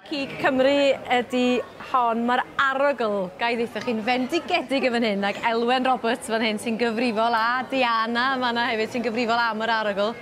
Cig Cymru ydy hon. Mae'r arogl, gai ddeitha chi'n fendigedig yn fan hyn, ac Elwen Roberts fan hyn sy'n gyfrifol, a Diana yma yna hefyd sy'n gyfrifol am yr arogl.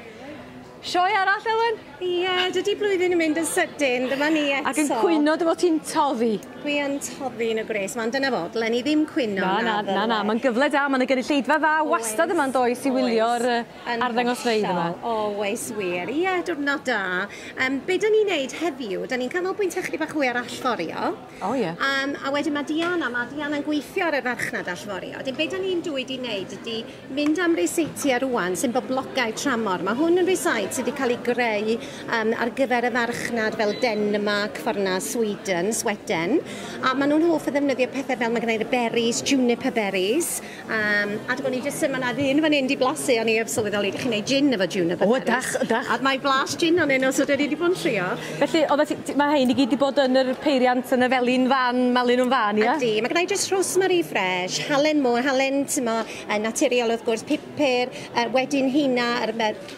Sioe arall, Elwen? Ie, yeah, dydy blwyddyn yn mynd yn sydyn, dyma ni eto. Ac yn cwyno, dyma ti'n toddi. Dwi yn toddi yn y gwres, mae'n dyna fo, dylen ni ddim cwyno. Na, na, na, na, na. mae'n gyfle da, mae'n y gynulleidfa dda wastad yma'n does i wylio'r Yn arddangosfeydd yma. Oes wir. Ie, diwrnod da. Um, be da ni'n neud heddiw, da ni'n canolbwyntio chydig bach hwy ar allforio. O oh, ie. Yeah. Um, a wedyn mae Diana, mae Diana'n gweithio ar y farchnad allforio. Dyn be da ni'n dwy di wneud ydy mynd am reseitiau rwan sy'n boblogau tramor. Mae hwn yn reseit sydd wedi cael ei greu um, ar gyfer y farchnad fel Denmark, fforna Sweden, Sweden. A maen nhw'n hoff o ddefnyddio pethau fel mae gennau'r berries, juniper berries, Um, a dwi'n i jyst, mae yna ddyn fan hyn di blasu, o'n i heb sylweddoli, ydych chi'n neud gin efo juniper O, dach, dach. A mae blas gin o'n un os ydyn ni wedi bod yn trio. Felly, o, mae hyn i gyd wedi bod yn yr peiriant yn y felin fan, melin o'n fan, ia? Ydy, mae gennau jyst rosemary fresh, halen mo, halen, ti'n mo, naturiol wrth gwrs, pupur, uh, wedyn hina, yr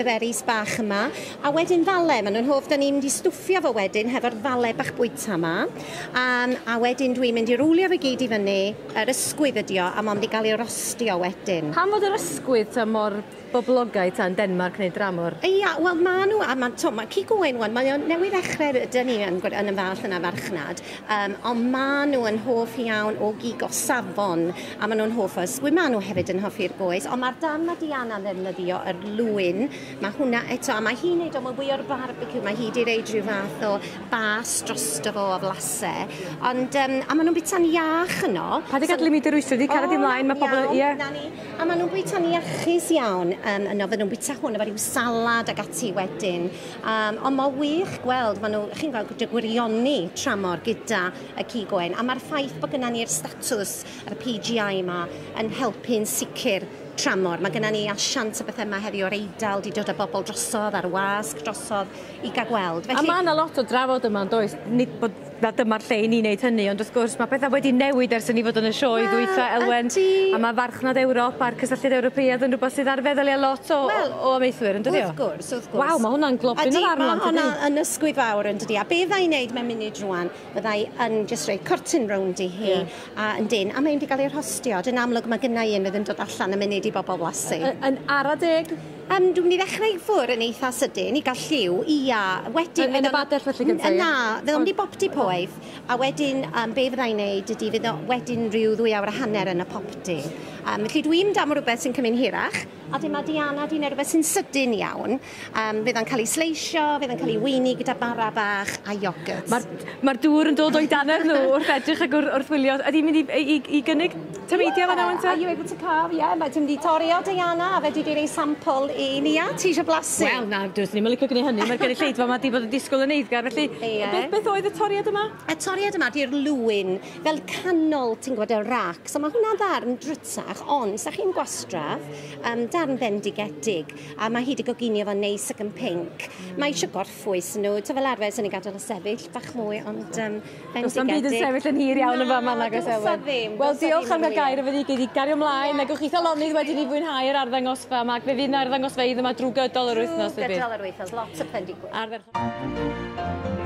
berries bach yma, a wedyn fale, maen nhw'n hoff, da ni'n mynd i stwffio fo wedyn hefo'r fale bach bwyta yma, um, a wedyn dwi'n mynd i rwlio fe gyd i fyny, Yr ysgwydd ydi o, a mond i gael ei rostio wedyn. Pam fod yr ysgwydd ta mor boblogaidd ta yn Denmarc neu dramor? Ia, wel ma nhw, a ma, t'o, ma cig oen wan, mae o newydd ddechrau, rydan ni yn, yn y fallt yna farchnad, um, ond ma nhw yn hoff iawn o gig o safon, a ma nhw'n hoff o ysgwydd, ma nhw hefyd yn hoffi'r boes, ond mae'r dan ma Diana yn ddefnyddio yr lwyn, mae hwnna eto, a mae hi'n neud o, mae fwy o'r barbecue, mae hi wedi reid rhyw fath o bas drosto fo o flase, ond yym a ma' nw'n bita'n iach yno. Paid â gadel i mi dyrwyso di, caria di mlaen, ma' pobl yn, ie. 'Na ni. A ma' nw'n bwyta'n iachus iawn yym yno, fy' nw'n bwyta hwn efo ryw salad ag ati wedyn. Yym on' ma' wych gweld ma' nw chi'n gweld dy gwirioni tramor gyda y cig oen, a ma'r ffaith bo' gynna ni'r statws yr PGI 'ma yn helpu'n sicir tramor. Ma' gynna ni asiant a bethe 'ma heddi o'r Eidal 'di dod â bobol drosodd a'r wasg drosodd i gael gweld. Felly... A mae yna lot o drafod yma, does? Nid bod na dyma'r lle i ni wneud hynny, ond wrth gwrs mae pethau wedi newid ers i ni fod yn y sioe ddwytha, Elwen. A mae farchnad Ewrop a'r cysylltiad Ewropeaidd yn rhywbeth sydd ar feddyliau lot o, well, o amaethwyr, yn dydi o? Wrth gwrs, wrth gwrs. Waw, mae hwnna'n globyn o farn. Mae hwnna yn ysgwyd fawr yn dydi. A be fydda i'n neud mewn munud rwan, fydda i yn just rhoi cortyn rownd i hi yeah. a yn dyn, a mae'n di gael ei rhostio. Yn amlwg mae gynnau un fydd yn dod allan y munud i bobl flasu. Yn ara deg. Yym, dwi'n mynd i ddechrau i ffwr yn eitha sydyn i gael lliw, ia. Wedyn... Yn, yn y bader felly gyda fi? Na, fe o'n i popty poeth, a wedyn um, be fyddai'n neud ydy fydd wedyn rhyw ddwy awr a hanner yn y popty. Um, felly dwi'n mynd am rhywbeth sy'n cymryd hirach, a dyma Diana di neu rhywbeth sy'n sydyn iawn. Um, fydd o'n cael ei sleisio, fydd o'n cael ei weini gyda bara bach a iogwrt. Mae'r ma dŵr yn dod o'i dannedd nhw wrth edrych ac wrth wylio. Ydy'n mynd i, i, i gynnig Ti'n meindio fanna ŵan te? Are you able to carve? Yeah, mae ti'n mynd i torri o Diana a fe di di rei sampl i Nia. Ti eisiau blasu? Wel, na, dwys ni'm yn licio gwneud hynny. Mae'r gynulleidfa yma di bod yn disgwyl yn eiddgar, felly... Ie. Beth, beth oedd y toriad yma? Y toriad yma di'r lwyn, fel canol, ti'n gwybod, y rac. So mae hwnna'n ddarn drwtach, ond sa chi'n gwastraff, um, darn bendigedig, a mae hi di goginio fo'n neis ac yn pink. Mae eisiau gorff ffwys nhw. Ta fel arfer, sy'n ei gadael y sefyll bach mwy, ond um, bendigedig. Does am byd yn sefyll yn hir iawn yn fama na gos Elen. ddim. Wel, diolch am gael gair efo ni gyd i gario ymlaen. Yeah. Negwch chi thalonydd wedi ni fwynhau yr arddangosfa yma, ac fe fydd na arddangosfa idd yma drwy gydol yr wythnos. Drwy gydol yr wythnos, lots o plendigwyr. Arfer...